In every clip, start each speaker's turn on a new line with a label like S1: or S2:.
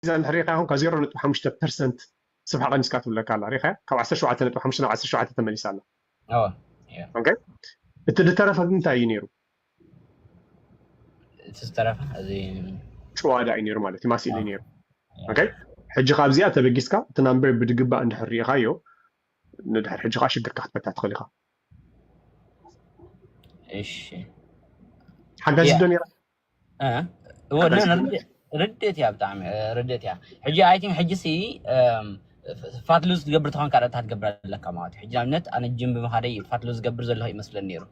S1: እዛ እንድሕር ሪኢኻያ ውን ካብ ዜሮ ነጥቢ ሓሙሽተ ፐርሰንት ስፍሓ ቀኒስካ ትብለካ ኣላ ሪኢኻያ ካብ ዓሰርተ ሸውዓተ ነጥቢ ሓሙሽተ ናብ ዓሰርተ ሸውዓተ ተመሊሳ ኣላ ኣወ እያ ኦኬ እቲ ዝተረፈ ግን እንታይ እዩ ነይሩ
S2: እቲ ዝተረፈ እዚ ጭዋዳ እዩ ነይሩ
S1: ማለት እዩ ማስኢሊ እዩ ነይሩ ኦኬ ሕጂ ካብዚኣ ተበጊስካ እቲ ናምበር ብድግባእ እንድሕር ሪኢኻዮ ንድሕር ሕጂ ከዓ ሽግርካ ክትፈትሕ ትኽእል ኢኻ
S2: እሺ
S1: ሓጋዚ ዶ ነይራ ርድት እያ
S2: ብጣዕሚ ርድት እያ ሕጂ ኣይ ቲንክ ሕጂ ሲ ፋትሉ ዝገብር ትኾን ካልእ እንታይ ትገብር ኣለካ ማለት እዩ ሕጂ ንኣብነት ኣነ ጅም ብምኻደይ ፋትሉ ዝገብር ዘለኹ ይመስለኒ ነይሩ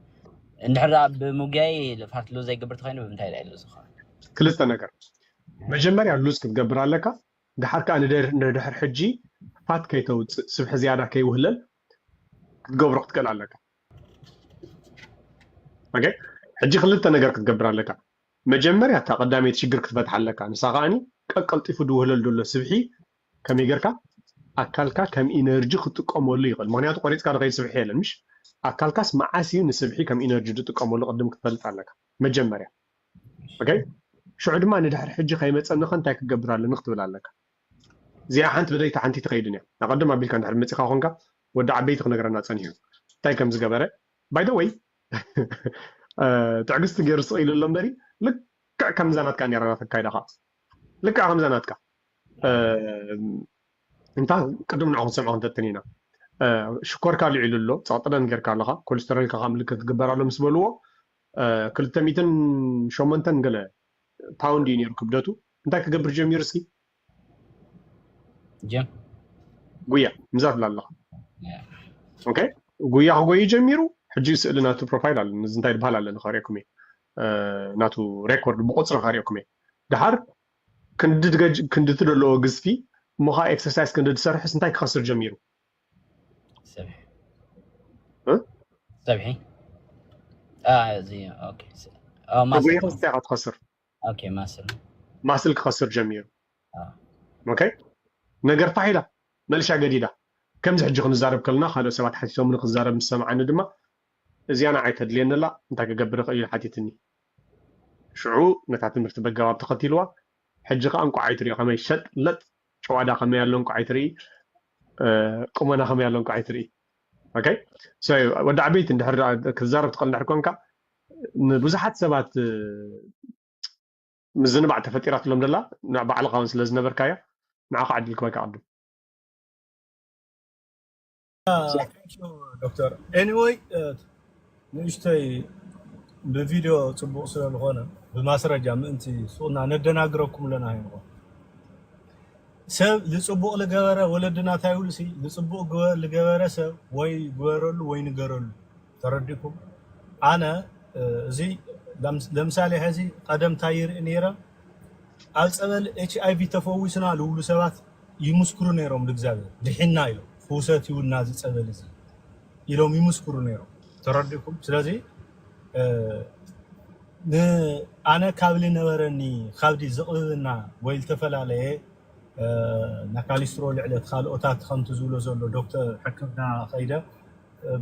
S2: እንድሕር ደኣ ብምጉያይ ፋትሉ ዘይገብር ተኮይኑ ብምንታይ ደኣ ኢሉ ዝኸውን ክልተ ነገር
S1: መጀመርያ ሉዝ ክትገብር ኣለካ ድሓር ከዓ ንድሕር ሕጂ ፋት ከይተውፅእ ስብሒ ዝያዳ ከይውህለል ክትገብሮ ክትክእል ኣለካ ኦኬ ሕጂ ክልተ ነገር ክትገብር ኣለካ መጀመርያ እታ ቀዳመይቲ ሽግር ክትፈትሓ ኣለካ ንሳ ከዓኒ ቀቀልጢፉ ድውህለል ዘሎ ስብሒ ከመይ ጌርካ ኣካልካ ከም ኢነርጂ ክጥቀመሉ ይኽእል ምክንያቱ ቆሪፅካ ንኸይድ ስብሒ የለን ምሽ ኣካልካስ መዓስ እዩ ንስብሒ ከም ኢነርጂ ዝጥቀመሉ ቅድም ክትፈልጥ ኣለካ መጀመርያ ኦኬ ሽዑ ድማ ንድሕሪ ሕጂ ከይመፀኒ ከ እንታይ ክገብር ኣለኒ ክትብል ኣለካ እዚኣ ሓንቲ ልደይቲ ሓንቲ ትከይድን እያ ኣቀድም ኣቢልካ እንድሕር መጺካ ኮንካ ወዲ ዓበይቲ ክነግረና ጸኒሑ እንታይ ከም ዝገበረ ባይ ዘ ወይ ትዕግስቲ ገይሩ ስቅ ኢሉ ኣሎ እምበሪ ልክዕ ከምዛ ናትካ ነይራ ናትካ ኣካይዳ ከኣ ልክዕ ከምዛ ናትካ እንታ ቅድም ንዑ ክንሰምዖ ክንፈትን ኢና ሽኮርካ ልዒሉ ኣሎ ፀቕጥለን ጌርካ ኣለኻ ኮሌስተሮልካ ካብ ምልክት ክግበር ኣሎ ምስ በልዎ ክልተ ሚትን ሸሞንተን ገለ ፓውንድ እዩ ነይሩ ክብደቱ እንታይ ክገብር ጀሚሩ እስኪ
S2: ጀም ጉያ
S1: ምዛ ትብላ ኣለኻ ኦኬ ጉያ ክጎዩ ጀሚሩ ሕጂ ስእሊ ናቱ ፕሮፋይል ኣሎ እዚ እንታይ ዝበሃል ኣለኒ ከሪኦኩም እየ ናቱ ሬኮርድ ብቁፅሪ ከሪኦኩም እየ ድሓር ክንዲ ትደለዎ ግዝፊ እሞ ከዓ ኤክሰርሳይዝ ክንዲ ዝሰርሕስ እንታይ ክኸስር ጀሚሩ
S2: ፀብሒ እዚ ኦኬ ማሰ
S1: ትኸስር ኦኬ ማስል
S2: ማስል
S1: ክኸስር ጀሚሩ ኦኬ ነገር ፋሕ ኢላ መልሻ ገዲዳ ከምዚ ሕጂ ክንዛረብ ከለና ካልኦት ሰባት ሓቲቶምኒ ክዛረብ ምስ ሰምዓኒ ድማ እዚኣ ንዓይ ተድልየኒ ኣላ እንታይ ክገብር ይኽእል ኢሉ ሓቲትኒ ሽዑ ነታ ትምህርቲ በጋባብ ተኸቲልዋ ሕጂ ከኣ እንቋዕ ኣይትሪኦ ከመይ ሸጥ ለጥ ጨዋዳ ከመይ ኣሎ እንቋዕ ኣይትርኢ ቁመና ከመይ ኣሎ እንቋዕ ኣይትርኢ ኦኬ ሶ ወዲ ዓበይቲ እንድሕር ክትዛረብ ትኽእል እንድሕር ኮንካ ንብዙሓት ሰባት ምዝንባዕ ተፈጢራትሎም ደላ ንባዕልኻ ውን ስለ ዝነበርካያ ንዓኻ ዕድል ክበካ ቅድም
S3: ዶክተር ኤኒወይ ንእሽተይ ብቪድዮ ፅቡቕ ስለ ዝኾነ ብማስረጃ ምእንቲ ሱቕና ነደናግረኩም ኣለና ይንኾ ሰብ ዝፅቡቕ ዝገበረ ወለድና እንታይ ይብሉ ሲ ዝፅቡቕ ዝገበረ ሰብ ወይ ግበረሉ ወይ ንገረሉ ተረዲኩም ኣነ እዚ ለምሳሌ ሐዚ ቀደም ታይ ይርኢ ነይረ ኣብ ፀበል ኤችኣይቪ ተፈዊስና ልብሉ ሰባት ይምስክሩ ነይሮም ልእግዚኣብሔር ድሒንና ኢሎም ፍውሰት እዩ እና እዚ ፀበል እዚ ኢሎም ይምስክሩ ነይሮም ተረዲኩም ስለዚ ን ኣነ ካብ ልነበረኒ ካብዲ ዝቕብብና ወይ ልተፈላለየ ናካሊስትሮ ልዕለት ካልኦታት ከምቲ ዝብሎ ዘሎ ዶክተር ሕክምና ኸይደ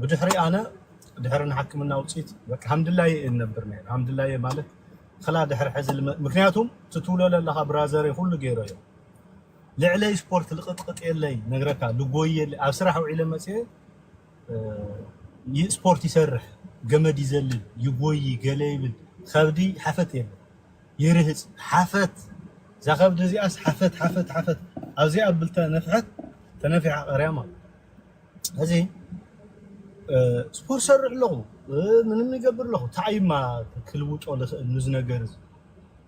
S3: ብድሕሪ ኣነ ድሕሪ ንሓክምና ውጺት በቃ ሃምድላየ እየ ነብር ነይረ ሃምድላየ ማለት ክላ ድሕሪ ሕዚ ምክንያቱም ትትውለለ ኣለካ ብራዘረይ ኩሉ ገይረ እዮ ልዕለይ ስፖርት ልቅጥቅጥ የለይ ነግረካ ልጎይ የለ ኣብ ስራሕ ውዒለ መፅየ ስፖርት ይሰርሕ ገመድ ይዘልል ይጎይ ገለ ይብል ከብዲ ሓፈት የለ ይርህፅ ሓፈት እዛ ከብዲ እዚኣስ ሓፈት ሓፈት ሓፈት ኣብዚኣ ብልተ ነፍሐት ተነፊሓ ቀርያ ማለት ሕዚ ስፖርት ሰርሕ ኣለኹ ምንም ይገብር ኣለኹ እንታይ እዩማ ክልውጦ ዝኽእል ንዚ ነገር እዚ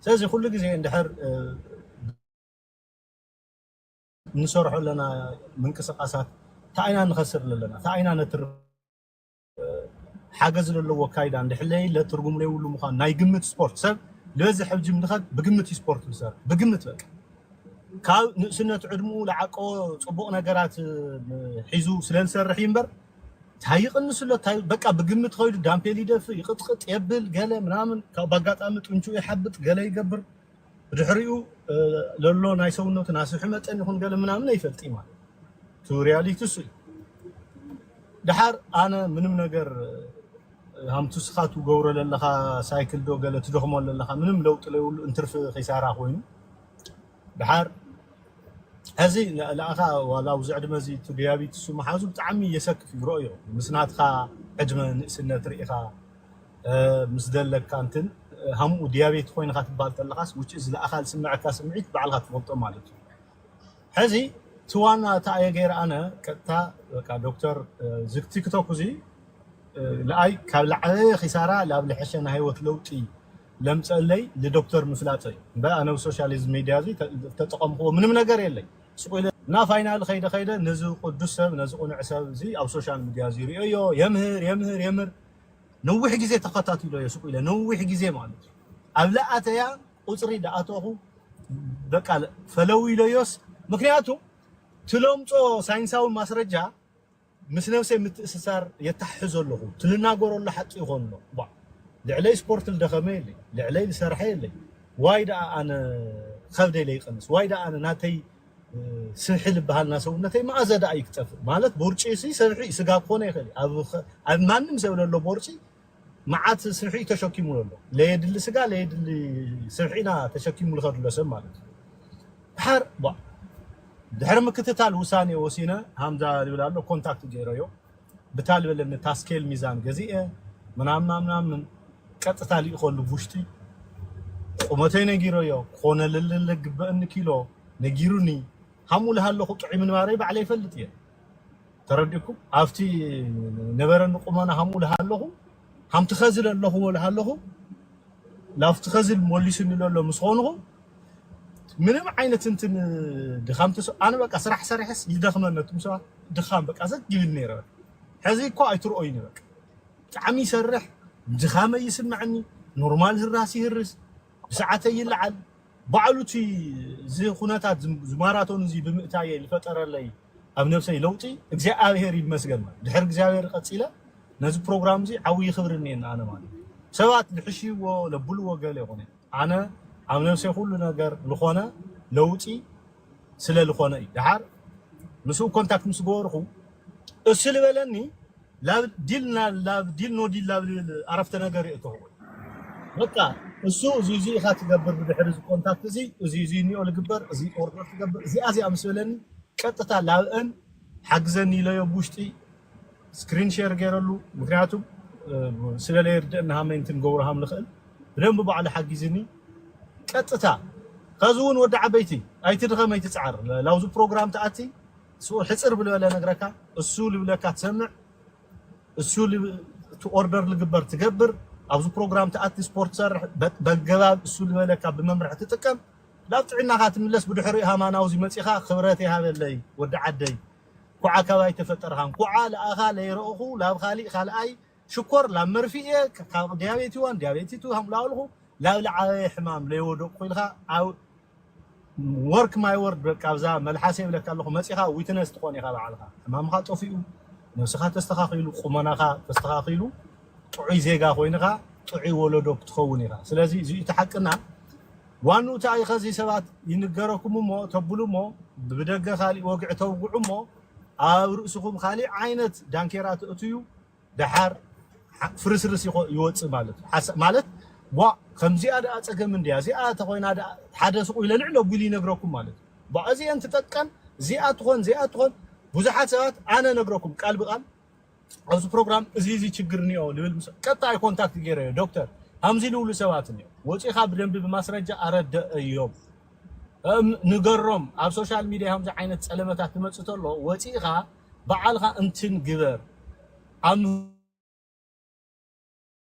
S3: ስለዚ ኩሉ ግዜ እንድሕር እንሰርሖ ኣለና ምንቅስቃሳት እንታይ ኢና ንኸስር ኣለና እንታይ ኢና ነትርፍ ሓገዝ ለለዎ ኣካይዳ እንድሕለየለ ትርጉም ለይብሉ ምዃኑ ናይ ግምት ስፖርት ሰብ ልበዝሕ ኣብ ጅም ድኸድ ብግምት እዩ ስፖርት ዝሰርሕ ብግምት በቃ ካብ ንእስነት ዕድምኡ ልዓቀቦ ጽቡቕ ነገራት ሒዙ ስለ ዝሰርሕ እዩ እምበር ታይ ይቕንስሎ ታይ በቃ ብግምት ኸይዱ ዳምፔል ይደፍእ ይቕጥቕጥ የብል ገለ ምናምን ካብ ባጋጣሚ ጥንቹ ይሓብጥ ገለ ይገብር ብድሕሪኡ ለሎ ናይ ሰውነቱ ናስብሒ መጠን ይኹን ገለ ምናምን ኣይፈልጥይ ማለት እቲ ሪያሊቲ እሱ እዩ ድሓር ኣነ ምንም ነገር ሃምቱ ስኻ ትገብሮ ለለኻ ሳይክል ዶ ገለ ትደኽሞ ለለኻ ምንም ለውጢ ለይብሉ እንትርፊ ኺሳራ ኮይኑ ድሓር እዚ ንኣኻ ዋላ ኣብዚ ዕድመ እዚ እቲ ዲያቢትሱ ምሓዙ ብጣዕሚ የሰክፍ እዩ ርኦዮ ምስ ናትኻ ዕድመ ንእስነት ርኢኻ ምስ ደለካ እንትን ሃምኡ ድያቤት ኮይንኻ ትባል ተለኻስ which is ለኣኻ ዝስመዐካ ስምዒት ባዕልኻ ትፈልጦ ማለት እዩ ሐዚ እቲ ዋና እቲ ኣየ ገይረ ኣነ ቀጥታ በቃ ዶክተር እዚ ቲክቶክ እዚ ለኣይ ካብ ለዓበየ ኺሳራ ላብ ለሐሸ ናይ ህይወት ለውጢ ለምፀእለይ ልዶክተር ምፍላጠይ እዩ እምበር ኣነ ብ ሶሻሊዝም ሚድያ እዚ ተጠቐምኹዎ ምንም ነገር የለይ ሱቕ ኢለ እና ፋይናሊ ኸይደ ኸይደ ነዚ ቕዱስ ሰብ ነዚ ቕኑዕ ሰብ እዚ ኣብ ሶሻል ሚድያ እዚ ሪኦዮ የምህር የምህር የምህር ነዊሕ ግዜ ተኸታቲሎዮ ስቅ ኢለ ነዊሕ ግዜ ማለት እዩ ኣብ ልኣተያ ቁጽሪ ድኣተኹ በቃ ፈለው ኢሎዮስ ምክንያቱ ትለምጾ ሳይንሳዊ ማስረጃ ምስ ነብሰይ ምትእስሳር የታሕሕዞ ኣለኹ ትልናገሮ ኣሎ ሓቂ ይኾን ኣሎ ቧእ ልዕለይ ስፖርት ልደኸመ የለይ ልዕለይ ልሰርሐ የለይ ዋይ ድኣ ኣነ ኸብደይ ለይቀንስ ዋይ ድኣ ኣነ ናተይ ስብሒ ልበሃል እና ሰውነተይ መኣዘ ደኣ እዩ ክጠፍእ ማለት ቦርጪ እሲ ሰብሒ እዩ ስጋ ክኾነ ይኽእል እዩ ኣብ ማንም ሰብ ለሎ ቦርጪ መዓት ስብሒ እዩ ተሸኪሙ ለሎ ለየድሊ ስጋ ለየድሊ ስብሒ ኢና ተሸኪሙ ልኸድ ሎ ሰብ ማለት እዩ ድሓር ቧእ ድሕሪ ምክትታል ውሳኔ ወሲነ ሃምዛ ይብል ኣሎ ኮንታክት ገይረዮ ብታል በለኒ ታስኬል ሚዛን ገዚኤ ምናምናምናምን ቀጥታ ሊኢኮሉ ቡሽቲ ቁመተይ ነጊረዮ ክኮነልልል ልግበእኒ ኪሎ ነጊሩኒ ሃሙ ልሃለኩ ጥዑይ ምንባረይ ባዕለይ ይፈልጥ እየ ተረዲእኩም ኣብቲ ነበረኒ ቁመና ሃሙ ልሃለኩ ሃምቲ ከዚ ለለኹዎ ለሃለኹ ላፍቲ ከዚ ሞሊሱኒ ለሎ ምስ ኾንኹ ምንም ዓይነት እንትን ድኻም ተስ ኣነ በቃ ስራሕ ሰሪሐስ ይደኽመኒ እቱም ሰባት ድኻም በቃ ዘግ ይብል ነይረ በቃ ሕዚ እኮ ኣይትርኦይኒ በቃ ብጣዕሚ ይሰርሕ ድኻመይ ይስምዐኒ ኖርማል ህራስ ይህርስ ብሰዓተይ ይለዓል ባዕሉ እቲ እዚ ኩነታት እዚ ማራቶን እዚ ብምእታየይ ዝፈጠረለይ ኣብ ነብሰይ ለውጢ እግዚኣብሔር ይመስገን ድሕሪ እግዚኣብሔር ቀጺለ ነዚ ፕሮግራም እዚ ዓውዪ ክብሪ እኒኤኒ ኣነ ማለት ሰባት ልሕሽይዎ ለብልዎ ገለ ይኹን ኣነ ኣብ ነብሰይ ኩሉ ነገር ልኾነ ለውጢ ስለ ልኾነ እዩ ደሓር ምስኡ ኮንታክት ምስ ገበርኹ እሱ ልበለኒ ላብ ዲል ና ላብ ዲል ኖ ዲል ላብ ልብል ኣረፍተ ነገር የእተዎ በቃ እሱ እዚ እዚ ኢካ ትገብር ብድሕሪ እዚ ኮንታክት እዚ እዚ እዚ ኒኦ ልግበር እዚ ኦርደር ትገብር እዚኣ እዚኣ ምስ በለኒ ቀጥታ ላብእን ሓግዘኒ ኢለዮ ብ ውሽጢ ስክሪን ሸር ገይረሉ ምክንያቱ ስለ ለይርደእኒ ሃመይ እንትን ገብሮ ሃም ልክእል ብደንቢ ባዕሉ ሓጊዝኒ ቀጥታ ከዚ እውን ወዲ ዓበይቲ ኣይትድከም ኣይትፅዓር ላብዚ ፕሮግራም ትኣቲ እሱ ሕጽር ብልበለ እነግረካ እሱ ልብለካ ትሰምዕ እሱ እቲ ኦርደር ልግበር ትገብር ኣብዚ ፕሮግራም ትኣቲ ስፖርት ትሰርሕ በገባብ እሱ ልበለካ ብመምርሒ ትጥቀም ላብ ጥዕናኻ ትምለስ ብድሕሪኡ ሃማናው እዚ መጺኻ ክብረት ይሃበለይ ወዲ ዓደይ ኩዓ ካባይ ተፈጠርኻ ኩዓ ልኣኻ ለይረእኹ ላብ ኻሊእ ካልኣይ ሽኮር ላብ መርፍእ እየ ካብ ድያቤት ዋን ድያቤት ቱ ሃምብላውልኹ ላብ ልዓበየ ሕማም ለይወደቅኹ ኢልኻ ኣብ ወርክ ማይ ወርድ በቃ ኣብዛ መልሓሰይ ይብለካ ኣለኹ መጺኻ ዊትነስ ትኾን ኢኻ ባዕልኻ ሕማምኻ ጠፊኡ ነብስኻ ተስተኻኺሉ ቁመናኻ ተስተኻኺሉ ጥዑይ ዜጋ ኮይንኻ ጥዑይ ወለዶ ክትኸውን ኢኻ ስለዚ እዚዩ እቲ ሓቅና ዋንኡ እቲ ኣይኸዚ ሰባት ይንገረኩም እሞ ተብሉ እሞ ብደገ ካሊእ ወግዒ ተውግዑ እሞ ኣብ ርእስኹም ኻሊእ ዓይነት ዳንኬራ ተእትዩ ደሓር ፍርስርስ ይወጽእ ማለት እዩ ሓሳ ማለት ቧእ ከምዚኣ ደኣ ጸገም እንድያ እዚኣ ተኾይና ደኣ ሓደ ስቁ ኢለ ልዕል ኣጒሊ ይነግረኩም ማለት እዩ ቧእ እዚኤን ትጠቀም እዚኣ ትኾን እዚኣ ትኾን ብዙሓት ሰባት ኣነ ነግረኩም ቃል ብቃል ኣብዚ ፕሮግራም እዚ እዚ ችግር እኒኦ ልብል ምስ ቀጣይ ኮንታክት ገይረዮ ዶክተር ሃምዚ ልብሉ ሰባት እኒኦ ወፂኻ ብደንቢ ብማስረጃ ኣረደእዮም እም ንገሮም ኣብ ሶሻል ሚዲያ ከምዚ ዓይነት ፀለመታት ትመፅእ ተሎ ወፂእኻ በዓልኻ እንትን ግበር ኣብ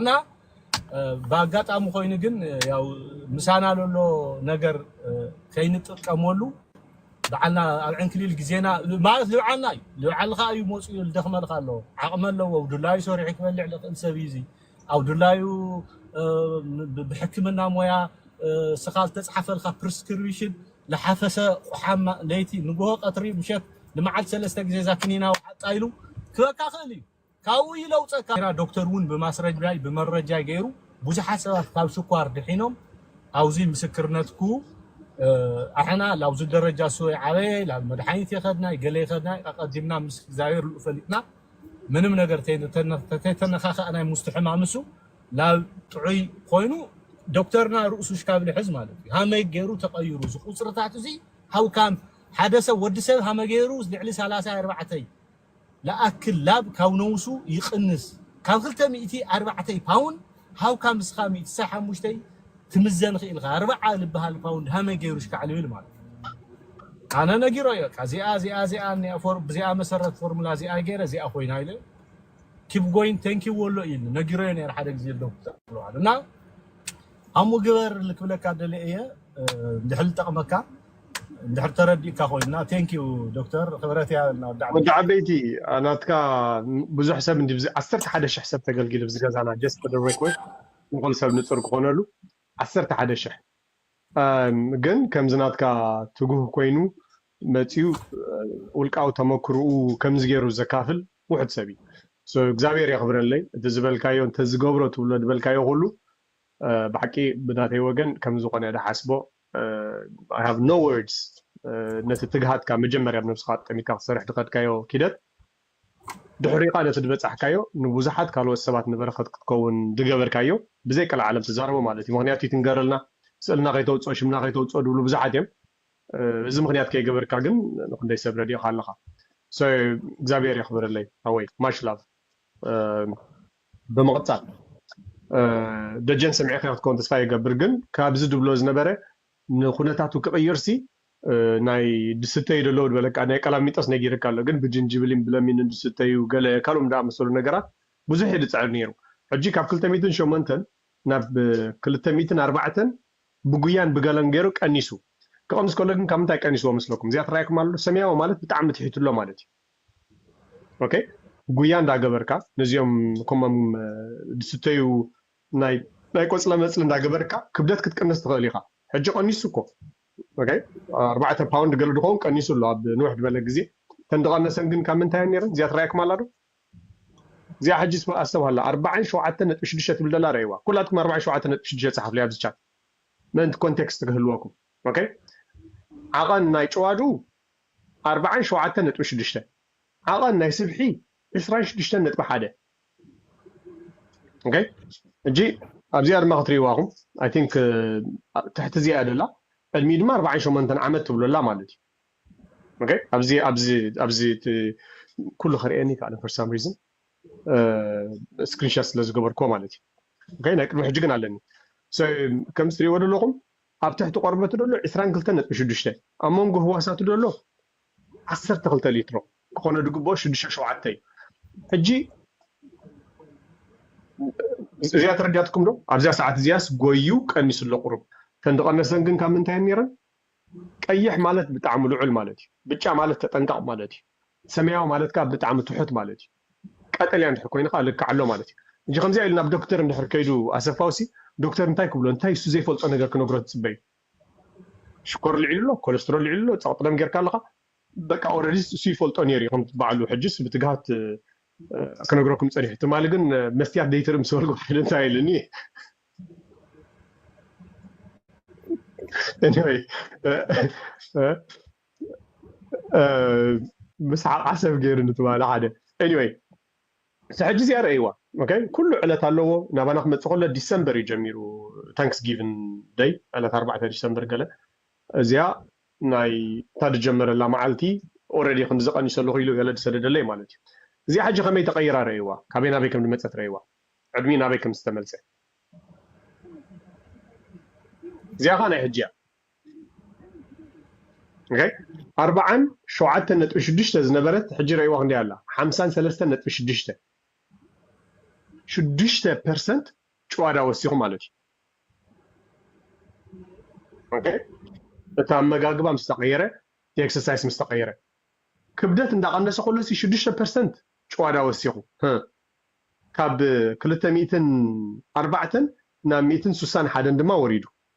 S3: እና ብኣጋጣሚ ኮይኑ ግን ያው ምሳና ለሎ ነገር ከይንጥቀመሉ ብዓልና ኣብ ዕንክሊል ግዜና ማለት ልብዓልና እዩ ልብዓልኻ እዩ መፅኡ ልደኽመልካ ኣሎ ዓቕሚ ኣለዎ ድላዩ ሰሪሑ ክበልዕ ልኽእል ሰብ እዩ እዚ ኣብ ድላዩ ብሕክምና ሞያ ስኻ ዝተፅሓፈልካ ፕሪስክሪቢሽን ልሓፈሰ ቁሓም ለይቲ ንግሆ ቀትሪ ምሸት ንመዓልቲ ሰለስተ ግዜ እዛ ክኒና ውዓጣ ኢሉ ክበካ ክእል እዩ ካብኡ ይለውፀካ። ጌራ ዶክተር እውን ብማስረጃይ ብመረጃይ ገይሩ ብዙሓት ሰባት ካብ ስኳር ድሒኖም ኣውዙይ ምስክርነት ኩ ኣሕና ላብዙ ደረጃ ሱበይ ዓበየ ላብ መድሓኒት የኸድናይ ገለ የኸድናይ ኣቐዲምና ምስ እግዚኣብሔር ልኡ ፈሊጥና ምንም ነገር ተይተነኻኸእናይ ሙስቲ ሕማም እሱ ላብ ጥዑይ ኾይኑ ዶክተርና ርእሱ ሽካብ ልሕዝ ማለት እዩ ሃመይ ገይሩ ተቐይሩ እዚ ቁፅርታት እዙይ ሃው ካም ሓደ ሰብ ወዲ ሰብ ሃመ ገይሩ ልዕሊ ሳላሳይ ኣርባዕተይ ልኣክል ላብ ካብ ነውሱ ይቅንስ ካብ ክልተ ሚእቲ ኣርባዕተይ ፓውን ሃውካ ምስካ ሚእቲ ሳይ ሓሙሽተይ ትምዘን ኪኢልካ ኣርባዓ ልብሃል ፓውንድ ሃመይ ገይሩ ሽካዕልብ ኢሉ ማለት እዩ ኣነ ነጊሮይ በቃ ዚኣ ዚኣ ዚኣ እኒኣ ፎርም ብዚኣ መሰረት ፎርሙላ ዚኣ ገይረ ዚኣ ኮይና ኢለ ኪፕ ጎይን ታንክ ዩ ወሎ ኢልኒ ነጊሮዮ ነይረ ሓደ ግዜ ዶብ ክትብለዋል እና ኣሙ ግበር ልክብለካ ደልየ እየ እንድሕር ልጠቅመካ እንድሕር ተረዲእካ ኮይና ቴንክ ዩ ዶክተር ክብረት እያ እና ወዲ ወዲ ዓበይቲ ዓበይቲ
S1: ኣ፣ ናትካ ን- ብዙሕ ሰብ እንዲ ብዚ- ዓሰርተ ሓደ ሽሕ ሰብ ተገልጊሉ ብዚ ገዛና ጀስት ፎር ዘ ሬኮርድ ንኹሉ ሰብ ንፁር ክኾነሉ ዓሰርተ ሓደ ሽሕ ኣም፣ ግን ከምዚ ናትካ ትጉህ ኮይኑ መፂኡ እ፣ ውልቃዊ ተመክርኡ ከምዚ ገይሩ ዘካፍል ውሑድ ሰብ እዩ So እግዚኣብሔር የኽብረለይ እቲ ዝበልካዮ እንተዝገብሮ ትብሎ ዝበልካዮ ኩሉ እ፣ ብሓቂ ብናተይ ወገን ከምዝኾነ እየ ድሓስቦ I have no words ነቲ ትግሃትካ መጀመርያ ኣብ ነብስኻ ኣጠሚትካ ክትሰርሕ ድኸድካዮ ኪደት ድሕሪኻ ነቲ ድበጻሕካዮ ንቡዙሓት ካልኦት ሰባት ንበረኸት ክትከውን ድገበርካዮ ብዘይ ቀልዓለም ትዛረቦ ማለት እዩ ምኽንያቱ ይትንገረልና ስእልና ከይተውጽኦ ሽምና ከይተውጽኦ ድብሉ ብዙሓት እዮም እዚ ምኽንያት ከይገበርካ ግን ንኽንደይ ሰብ ረዲእኻ ኣለኻ so እግዚኣብሔር የኽብረለይ ሓወይ much love ብምቕጻል ደጀን ሰሚዕካዮ ክትከውን ተስፋ ይገብር ግን ካብዚ ድብሎ ዝነበረ ንኩነታቱ ክቕይርሲ ናይ ድስተዩ ደለዉ ድበለካ ናይ ቀላሚጦስ ነጊርካ ኣሎ ግን ብጅንጅብሊን ብለሚንን ድስተዩ ገለ ካልኡም ድኣመሰሉ ነገራት ብዙሕ እየ ድጽዕር ነይሩ ሕጂ ካብ ክልተ ሚእትን ሸሞንተን ናብ ክልተ ሚእትን ኣርባዕተን ብጉያን ብገለን ገይሩ ቀኒሱ ክቕንስ ከሎ ግን ካብ ምንታይ ቀኒስዎ መስለኩም እዚኣ ትራኣየኩም ኣሎ ሰሚያዎ ማለት ብጣዕሚ ትሒትሎ ማለት እዩ ኦከይ ጉያ እንዳ ገበርካ ነዚኦም ኮሞም ዝስተዩ ናይ ናይ ቆጽለ መጽሊ እንዳ ገበርካ ክብደት ክትቅንስ ትኽእል ኢኻ ሕጂ ቀኒሱ እኮ ኦከይ ኣርባዕተ ፓውንድ ገለ ድኾን ቀኒሱ ኣሎ ኣብ ንውሕ ድበለ ግዜ ተን ድቀነሰን ግን ካብ ምንታይ እየን ነይረን እዚኣ ትራየኩም ኣላ ዶ እዚኣ ሕጂ ኣስተብሃላ ኣርባዓን ሸውዓተ ነጥቢ ሽዱሽተ ትብል ደላ ረእይዋ ኩላትኩም ኣርባዓን ሸውዓተ ነጥቢ ሽዱሽተ ጸሓፍለይ ኣብዚ ቻት ምእንቲ ኮንቴክስት ክህልወኩም ኦከይ ዓቐን ናይ ጭዋዱ ኣርብዓን ሸውዓተን ነጥቢ ሽዱሽተ፣ ዓቐን ናይ ስብሒ ዕስራን ሽዱሽተን ነጥቢ ሓደ። ኦከይ ሕጂ ኣብዚኣ ድማ ክትርእይዋ ኢኹም ኣይ ቲንክ ትሕቲ እዚኣ እያ ዘላ ዕድሚኡ ድማ ኣርብዓን ሸሞንተን ዓመት ትብሎ ኣላ ማለት እዩ። ኦከይ ኣብዚ ኣብዚ ኣብዚ እቲ ኩሉ ከርእየኒ ኣይከኣለን ፎር ሳም ሪዝን ስክሪንሻት ስለ ዝገበርኩዎ ማለት እዩ። ኦከይ ናይ ቅድሚ ሕጂ ግን ኣለኒ ሶ ከምዚ ትርእይዎ ዘለኹም ኣብ ትሕቲ ቆርበቱ ደሎ ዕስራን ክልተን ነጥቢ ሽዱሽተ፣ ኣብ መንጎ ህዋሳቱ ደሎ ዓሰርተ ክልተ ሊትሮ ክኾኖ ድግበኦ ሽዱሽተ ሸውዓተ እዩ። ሕጂ እዚኣ ተረዲኣትኩም ዶ? ኣብዚኣ ሰዓት እዚኣስ ጎዩ ቀኒሱ ኣሎ ቁሩብ። እተን ድቐነሰን ግን ካብ ምንታይ እየን ኔረን? ቀይሕ ማለት ብጣዕሚ ልዑል ማለት እዩ። ብጫ ማለት ተጠንቀቕ ማለት እዩ። ሰመያዊ ማለት ከኣ ብጣዕሚ ትሑት ማለት እዩ። ቀጠልያ እንድሕር ኮይኑ ከኣ ልክዕ ኣሎ ማለት እዩ። ሕጂ ከምዚኣ ኢሉ ናብ ዶክተር እንድሕር ከይዱ ኣሰፋውሲ ዶክተር እንታይ ክብሎ እንታይ እሱ ዘይፈልጦ ነገር ክነግሮ ትጽበ እዩ። ሽኮር ልዒሉ ኣሎ ኮለስትሮል ልዒሉ ኣሎ ጸቕጢ ደም ጌርካ ኣለኻ። በቃ ኦረዲስ እሱ ይፈልጦ ኔሩ እዩ ከምቲ ባዕሉ ሕጅስ ብትግሃት ክነግረኩም ጸኒሑ ትማሊ ግን መስትያት ደይትርኢ ምስ በልኩ ሓደ እንታይ ኢሉኒ ኤኒወይ ምስሓቅ ዓሰብ ገይሩኒ ትማሊ ሓደ ኤኒወይ ሕጂ እዚኣ ረእይዋ ኦኬ ኩሉ ዕለት ኣለዎ ናባና ክመፅእ ከሎ ዲሰምበር እዩ ጀሚሩ ታንክስ ጊቭን ደይ ዕለት ኣርባዕተ ዲሰምበር ገለ እዚኣ ናይ እታ ዝጀመረላ መዓልቲ ኦረዲ ከምዚ ቀኒሰ ኣለኹ ኢሉ ገለ ዝሰደደለይ ማለት እዩ እዚኣ ሕጂ ከመይ ተቐይራ ረእይዋ ካበይ ናበይ ከም ዝመፀት ረእይዋ ዕድሚ ናበይ ከም ዝተመልፀ እዚኣ ከዓ ናይ ሕጂ እያ ኣርብዓን ሸውዓተን ነጥቢ ሽዱሽተ ዝነበረት ሕጂ ረእይዋ ክንደይ ኣላ ሓምሳን ሰለስተን ነጥቢ ሽዱሽተ ሽዱሽተ ፐርሰንት ጭዋዳ ወሲኹ ማለት እዩ እቲ ኣመጋግባ ምስ ተቐየረ እቲ ኤክሰርሳይስ ምስ ተቐየረ ክብደት እንዳቐነሰ ከሎ ሲ ሽዱሽተ ፐርሰንት ጭዋዳ ወሲኹ ካብ ክልተ ሚእትን ኣርባዕተን ናብ ሚእትን ስሳን ሓደን ድማ ወሪዱ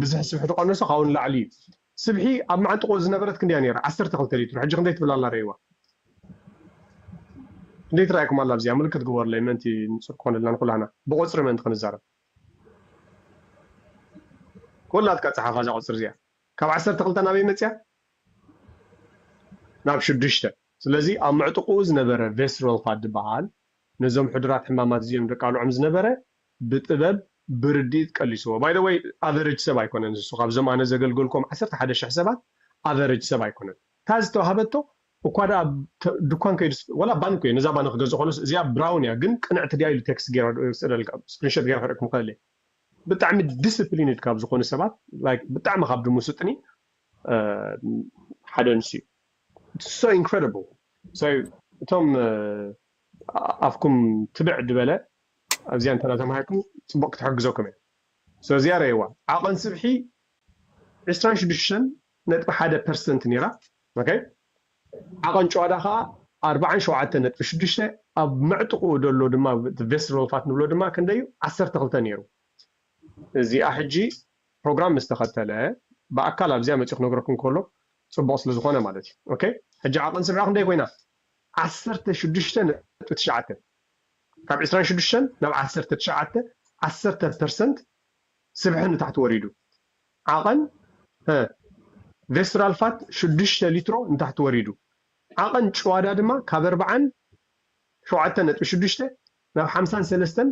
S1: ብዝሒ ስብሒ ተቀነሶ ካብኡ ንላዕሊ እዩ ስብሒ ኣብ መዓንጥቆ ዝነበረት ክንደይ እያ ነይራ ዓሰርተ ክልተ ሊትሮ ሕጂ ክንደይ ትብል ኣላ ረእይዋ ክንደይ ትራእየኩም ኣላ ኣብዚኣ ምልክት ግበሩለይ ምእንቲ ንጹር ክኾነልና ንኩላህና ብቆጽሪ ምእንቲ ክንዛረብ ኮላትካ ጸሓፋ እዛ ቁጽሪ እዚኣ ካብ ዓሰርተ ክልተ ናበይ መጽያ ናብ ሽዱሽተ ስለዚ ኣብ ምዕጥቁኡ ዝነበረ ቬስሮልፋ ድበሃል ነዞም ሕዱራት ሕማማት እዚኦም ደቃልዖም ዝነበረ ብጥበብ ብርዲኢት ቀሊስዎ ባይ ዘ ወይ ኣቨረጅ ሰብ ኣይኮነን ንሱ ካብዞም ኣነ ዘገልገልኮም ዓሰርተ ሓደ ሽሕ ሰባት ኣቨረጅ ሰብ ኣይኮነን እታ ዝተዋሃበቶ እኳ ደኣ ድኳን ከይዱ ወላ ባንኮ እየ ነዛ ባኒ ክገዝእ ኮሎስ እዚኣ ብራውን እያ ግን ቅንዕቲ ድያ ኢሉ ቴክስት ገይረ ወስደልካ ስክሪንሾት ገይረ ከርእየኩም ይክእል እየ ብጣዕሚ ዲስፕሊንድ ካብ ዝኾኑ ሰባት ላይክ ብጣዕሚ ካብ ድምሱጥኒ ሓደ ንሱ እዩ ሶ ኢንክሬዲብል ሶ እቶም ኣፍኩም ትብዕ ድበለ ኣብዚኣ እንተ ተማሂርኩም ጽቡቕ ክትሕግዘኩም እያ ስለዚኣ ረእይዋ ዓቐን ስብሒ ዕስራን ሽዱሽተን ነጥቢ ሓደ ፐርሰንት ነይራ ኦከይ ዓቐን ጭዋዳ ከኣ ኣርብዓን ሸውዓተን ነጥቢ ሽዱሽተ ኣብ መዕጥቑኡ ደሎ ድማ ቬስትሮል ፋት ንብሎ ድማ ክንደይ እዩ ዓሰርተ ክልተ ነይሩ እዚኣ ሕጂ ፕሮግራም ምስ ተኸተለ ብኣካል ኣብዚኣ መጺኡ ክነግረኩም ከሎ ጽቡቕ ስለ ዝኾነ ማለት እዩ ኦከይ ሕጂ ዓቐን ስብሒ ክንደይ ኮይና ዓሰርተ ሽዱሽተ ነጥቢ ትሽዓተ ካብ ዕስራን ሽዱሽተን ናብ ዓሰርተ ትሽዓተ፣ ዓሰርተ፣ ፐርሰንት ስብሒ ንታሕቲ ወሪዱ። ዓቐን ህ ቬስትራል ፋት ሽዱሽተ ሊትሮ ንታሕቲ ወሪዱ። ዓቐን ጭዋዳ ድማ ካብ ኣርብዓን ሸውዓተ ነጥቢ ሽዱሽተ ናብ ሓምሳን ሰለስተን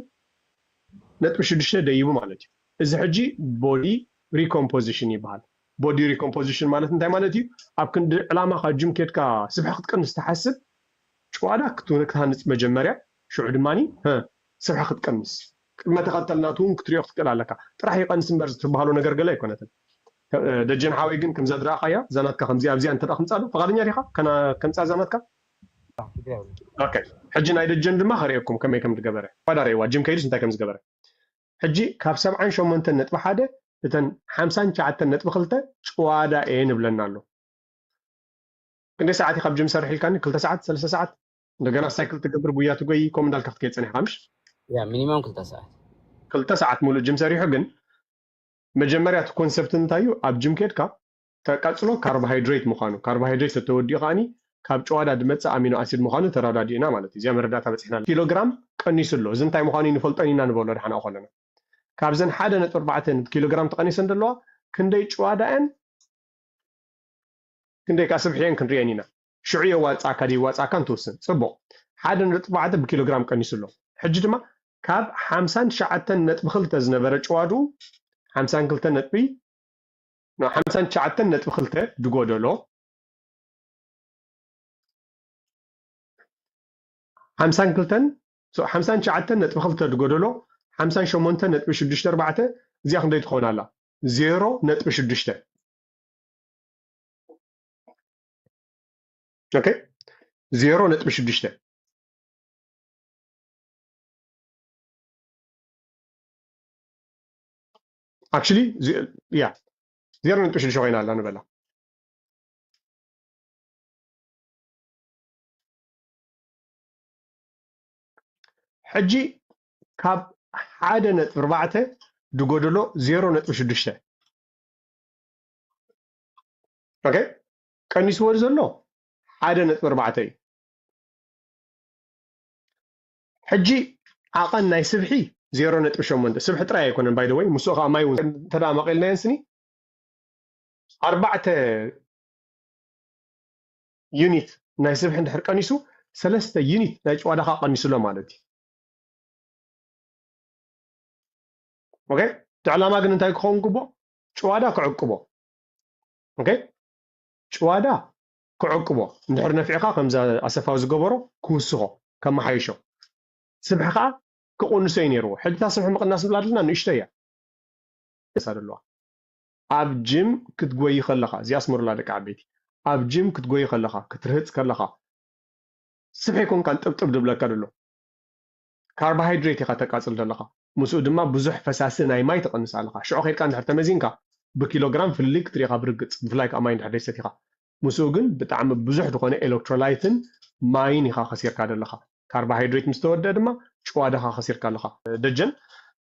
S1: ነጥቢ ሽዱሽተ ደይቡ ማለት እዩ። እዚ ሕጂ ቦዲ ሪኮምፖዚሽን ይበሃል። ቦዲ ሪኮምፖዚሽን ማለት እንታይ ማለት እዩ? ኣብ ክንዲ ዕላማኻ ጅም ኬድካ ስብሒ ክትቅንስ ትሓስብ፣ ጭዋዳ ክትሃንጽ መጀመርያ ሽዑ ድማ ህ ስርሓ ክትቀንስ። ቅድመ ተኸተል ናቱ ውን ክትሪኦ ክትክእል ኣለካ ጥራሕ ይቀንስ እምበር ዝትብሃሎ ነገር ገለ ኣይኮነትን ደጀን ሓወይ ግን ከምዛ ድረኣኻያ እዛ ናትካ ከምዚኣ ኣብዚኣ እንተ ክምጻ ዶ ፍቃደኛ ዲኻ ከምጻ እዛ ናትካ። ኦከ ሕጂ ናይ ደጀን ድማ ከርእየኩም ከመይ ከም ድገበረ ጭዋዳ ረእይዋ ጅም ከይዱስ እንታይ ከም ዝገበረ ሕጂ ካብ ሰብዓን ሸሞንተን ነጥቢ ሓደ እተን ሓምሳን ትሽዓተን ነጥቢ ክልተ ጭዋዳ እየን እብለና ኣሎ ክንደይ ሰዓት እዩ ካብ ጅም ሰርሕ ኢልካኒ ክልተ ሰዓት ሰለስተ ሰዓት እንደገና ሳይክል ትገብር ጉያ ትጎይ ከምኡ እንዳልካ ክትከይድ ፀኒሕካ ምሽ ያ ሚኒማም
S2: ክልተ ሰዓት ክልተ ሰዓት
S1: ሙሉእ ጅም ሰሪሑ ግን መጀመርያ እቲ ኮንሰፕት እንታይ እዩ ኣብ ጅም ኬድካ ተቀፅሎ ካርቦሃይድሬት ምዃኑ ካርቦሃይድሬት ተተወዲኡ ከዓኒ ካብ ጨዋዳ ድመፅእ ኣሚኖ ኣሲድ ምዃኑ ተረዳዲእና ማለት እዩ እዚኣ መረዳእታ በፂሕና ኣለና ኪሎግራም ቀኒሱ ኣሎ እዚ እንታይ ምዃኑ ንፈልጦን ኢና ንበሎ ድሓን ኣብኡ ከለና ካብዘን ሓደ ነጥቢ ኣርባዕተ ኪሎግራም ተቐኒሰን ዘለዋ ክንደይ ጨዋዳ እየን ክንደይ ከኣ ስብሕየን ክንርእየን ኢና። ሽዑ የዋጽኣካ ደይዋጽኣካን ትውስን። ጽቡቕ። ሓደ ነጥቢ ኣርባዕተ ብኪሎግራም ቀኒሱ ኣሎ። ሕጂ ድማ ካብ ሓምሳን ትሽዓተን ነጥቢ ክልተ ዝነበረ ጭዋድኡ፣ ሓምሳን ክልተ ነጥቢ፣ ናብ ሓምሳን ትሽዓተን ነጥቢ ክልተ ድጎደሎ፣ ሓምሳን ክልተን፣ so ሓምሳን ትሽዓተን ነጥቢ ክልተ ድጎደሎ፣ ሓምሳን ሸሞንተን ነጥቢ ሽዱሽተ ኣርባዕተ፣ እዚኣ ክንደይ ትኸውን ኣላ? ዜሮ ነጥቢ ሽዱሽተ። ኦኬ ዜሮ ነጥቢ ሽዱሽተ ኣክቹሊ ያ ዜሮ ነጥቢ ሽዱሽተ ኮይና ኣላ ንበላ ሕጂ ካብ ሓደ ነጥቢ ኣርባዕተ ድጎደሎ ዜሮ ነጥቢ ሽዱሽተ ኦኬ ቀኒስዎ ዘሎ ሓደ ነጥቢ ኣርባዕተ እዩ ሕጂ ዓቐን ናይ ስብሒ ዜሮ ነጥቢ ሸሞንተ ስብሒ ጥራይ ኣይኮነን ባይ ወይ ምስኡ ከዓ ማይ እውን እንተ መቒልናየን ስኒ ኣርባዕተ ዩኒት ናይ ስብሒ እንድሕር ቀኒሱ ሰለስተ ዩኒት ናይ ጭዋዳኻ ቀኒሱሎ ማለት እዩ ኦኬ እቲ ዕላማ ግን እንታይ ክኸውን ግቡእ ጭዋዳ ክዕቅቦ ኦከይ ጭዋዳ ክዕቅቦ እንድሕር ነፊዕኻ ከምዛ ኣሰፋው ዝገበሮ ክውስኾ ከመሓይሾ ስብሒ ከዓ ክቕንሶ እዩ ነይርዎ ሕጂ እታ ስብሒ ምቕናስ ንብላ ዘለና ንእሽቶ እያ እሳ ዘለዋ ኣብ ጅም ክትጎይ ከለኻ እዚኣ ኣስመሩላ ደቂ ዓበይቲ ኣብ ጅም ክትጎይ ከለኻ ክትርህፅ ከለኻ ስብሒ ኮንካን ጥብጥብ ድብለካ ደሎ ካርቦሃይድሬት ኢኻ ተቃጽል ዘለኻ፣ ምስኡ ድማ ብዙሕ ፈሳሲ ናይ ማይ ትቅንስ ኣለኻ። ሽዑ ኬድካ እንድሕር ተመዚንካ ብኪሎ ግራም ፍልልይ ክትርኢ ኢኻ ብርግጽ፣ ብፍላይ ከኣ ማይ እንድሕር ዘይሰቲኻ። ምስኡ ግን ብጣዕሚ ብዙሕ ዝኾነ ኤለክትሮላይትን ማይን ኢኻ ከሲርካ ደለኻ። ካርቦሃይድሬት ምስ ተወድኣ ድማ ጭዋዳኻ ከሲርካ ኣለኻ። ደጀን፣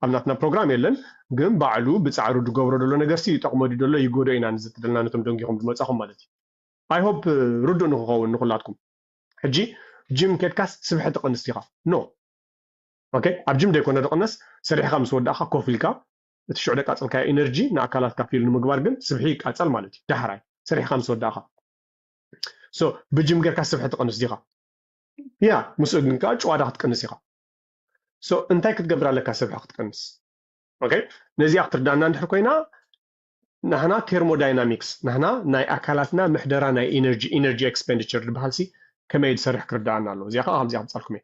S1: ኣብ ናትና ፕሮግራም የለን፣ ግን ባዕሉ ብጻዕሩ ድገብሮ ደሎ ነገርሲ ይጠቅሞ ድዩ ደሎ ይጎድኦ ኢና ንዝትደልና ነቶም ደንጊኹም ድመጻኹም ማለት እዩ። I hope ርዱእ ንክኸውን ንኹላትኩም። ሕጂ ጅም ኬድካስ ስብሒ ትቅንስ ዲካ no ok ኣብ ጅም ደይኮነ ድቅነስ ሰሪሕካ ምስ ወዳእካ ኮፍ ኢልካ እቲ ሽዑ ደቃጸልካዮ ኢነርጂ ንኣካላትካ ፊል ንምግባር ግን ስብሒ ይቃጸል ማለት እዩ ዳሕራይ ሰሪሕካ ምስ ወዳእካ so ብጅም ጌርካ ስብሒ ትቅንስ ዲካ ያ ምስኡ ግን ከኣ ጭዋዳ ክትቅንስ ኢካ so እንታይ ክትገብር ኣለካ ስብሒ ክትቅንስ ok ነዚኣ ክትርዳና እንድሕር ኮይና ናህና ቴርሞዳይናሚክስ ናህና ናይ ኣካላትና ምሕደራ ናይ ኢነርጂ ኢነርጂ ኤክስፔንዲቸር ዝበሃል ሲ ከመይ ዝሰርሕ ክርዳኣና ኣለዎ እዚኣ ከዓ ከምዚ ከምፃልኩም እየ